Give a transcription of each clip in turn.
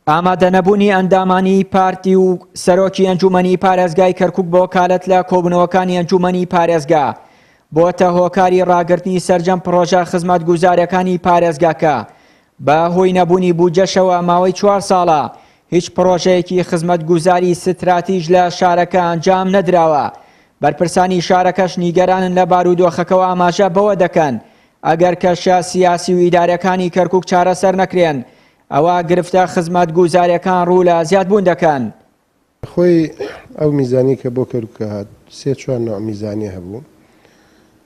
ئامادەنەبوونی ئەندامانی پارتی و سەرۆکی ئەنجوومەنی پارێزگای کەرکووک بۆ کالەت لە کۆبوونەوەکانی ئەنجوومەنی پارێزگا، بۆتە هۆکاری ڕاگرتنی سەرجەم پڕۆژە خزمەتگوزارییەکانی پارێزگاکە، بە هۆی نەبوونی بودجەشەوە ماوەی چوار ساڵە هیچ پڕۆژەیەکی خزمەتگوزاری ستراتیژ لە شارەکە ئەنجام نەدراوە، بەرپرسانی شارەکەش نیگەرانن لە بارودۆخەکەوە ئاماژە بەوە دەکەن، ئەگەر کەشە سیاسی و ئیدارییەکانی کەرکووک چارەسەر نەکرێن، ئەوا گرفتە خزمەتگوزاریەکان ڕوو لە زیاد بوون دەکەن. خۆی ئەو میزانیە کە بۆ کەرکوکە هات سێ چوار نوع میزانیە هەبوو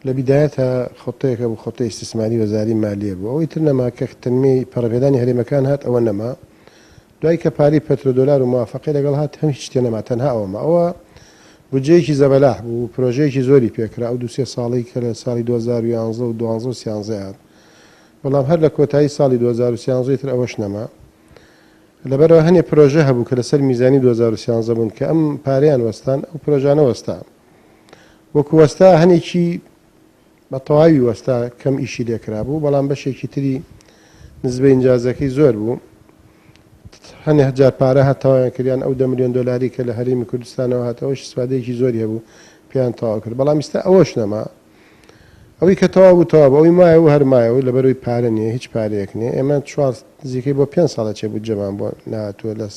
لە بیدایەتا خەتەیەک هەبوو خەتەی ئیستسماری وەزاری مالیە بوو ئەوەی تر نەما کە تەنمی پەڕەپێدانی هەرێمەکان هات ئەوە نەما دوای کە پاری پەترۆ دۆلار و موافقی لەگەڵ هات هەم هیچ تێ نەما تەنها ئەوە ما ئەوە بودجەیەکی زەبەلاح بوو پرۆژەیەکی زۆری پێکرا ئەو دو سێ ساڵی کە لە ساڵی 2011 و 12 و 13 هات بەڵام هەر لە کۆتایی ساڵی دوو هەزار و سیانزە تر ئەوەش نەما، لەبەرئەوە هەنێ پرۆژە هەبوو کە لەسەر میزانی دوو هەزار و سیانزە بوون کە ئەم پارەیان وەستان ئەو پرۆژانە وەستا وەکو وەستا هەنێکی بە تەواوی وەستا کەم ئیشی لێکرابوو بەڵام بەشێکی تری نزبەی ئینجازەکەی زۆر بوو هەنێ هەجار پارە هات تەواویان کردیان ئەو دە ملیۆن دۆلاری کە لە هەرێمی کوردستانەوە هات ئەوەش سوادەیەکی زۆری هەبوو پێیان تەواو کرد بەڵام ئیستا ئەوەش نەما ئەوی کە تەواو بوو تەواو بوو ئەوی مایە و هەر مایە و لەبەر ئەوی پارە نییە هیچ پارەیەک نییە ئێمە چوار نزیکەی بۆ پێنج ساڵە چێ بودجەمان بۆ نەهاتووە لەس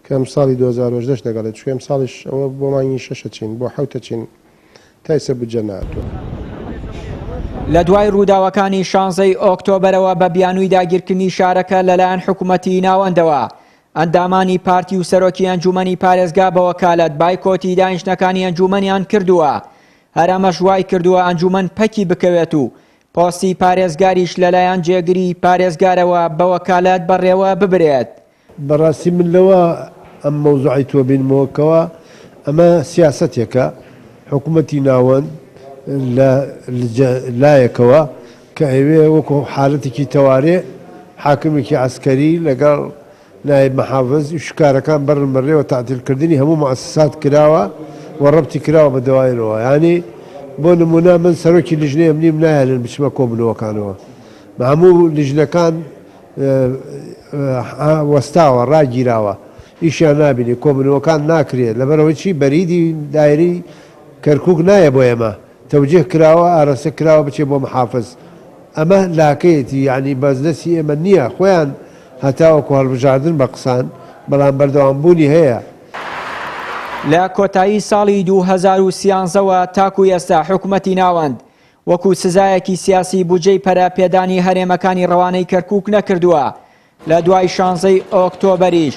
کە ئەمساڵی دوو هەزار و هەژدە لەگەڵێ چووی ئەمساڵیش ئەوە بۆ مانگی شەشە چین بۆ حەوتە چین تا ئیسە بودجە نەهاتووە. لە دوای ڕووداوەکانی شانزە ی ئۆکتۆبەرەوە بە بیانووی داگیرکردنی شارەکە لەلایەن حکومەتی ناوەندەوە ئەندامانی پارتی و سەرۆکی ئەنجومەنی پارێزگا بەوەکالەت بایکۆتی دانیشتنەکانی ئەنجومەنیان کردووە هەر ئەمەش وایکردووە ئەنجوومەن پەکی بکەوێت و پۆستی پارێزگاریش لەلایەن جێگری پارێزگارەوە بە وەکالەت بەڕێوە ببرێت. بەڕاستی من لەوە ئەم مەوزوعەی تۆ بینمەوە کەوا ئەمە سیاسەتێکە حکومەتی ناوەند لە لجە لایەکەوە کە ئەیەوێ وەکو حالەتێکی تەوارێ حاکمێکی عەسکەری لەگەڵ نایب محافز، ئیش و کارەکان بەرن بەڕێوە تەعتیل کردنی هەموو موئەسەسات کراوە و ڕەبتی کراوە بە دواینەوە یانی بۆ نموونە من سەرۆکی لیژنەی ئەمنیم نایەلن بچمە کۆبوونەوەکانەوە هەموو لیژنەکان وەستاوە ڕاگیراوە ئیشیان نابینی کۆبوونەوەکان ناکرێ لەبەرئەوەی چی بەریدی دایرەی کەرکوک نایە بۆ ئێمە تەوجیه کراوە ئارەستە کراوە بچێ بۆ محافز ئەمە لاکەیەتی یەعنی بە دەستی ئێمە نیە خۆیان هەتاوەکو هەڵبژاردن بە قسان بەڵام بەردەوام بوونی هەیە. لە کۆتایی ساڵی دوو هەزار و سیانزە وە تاکو ئێستا حکومەتی ناوەند وەکو سزایەکی سیاسی بودجەی پەرە پێدانی هەرێمەکانی ڕەوانەی کەرکوک نەکردووە لە دوای شانزەی ئۆکتۆبەریش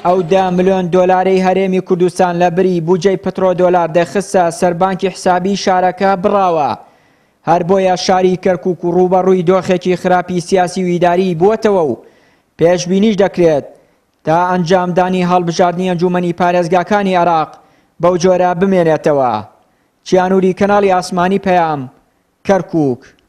ئەو دە ملۆن دۆلارەی هەرێمی کوردستان لە بری بوجەی پترۆدۆلار دەخستە سەر بانکی حسابی شارەکە بڕاوە، هەر بۆیە شاری کەرکوک رووبەڕووی دۆخێکی خراپی سیاسی و ئیداریی بووەتەوە و پێشبینیش دەکرێت تا ئەنجامدانی هەڵبژاردنی ئەنجوومەنی پارێزگاکانی عێراق بەو جۆرە بمێنێتەوە. چیانوری کەناڵی ئاسمانی پەیام، کەرکوک.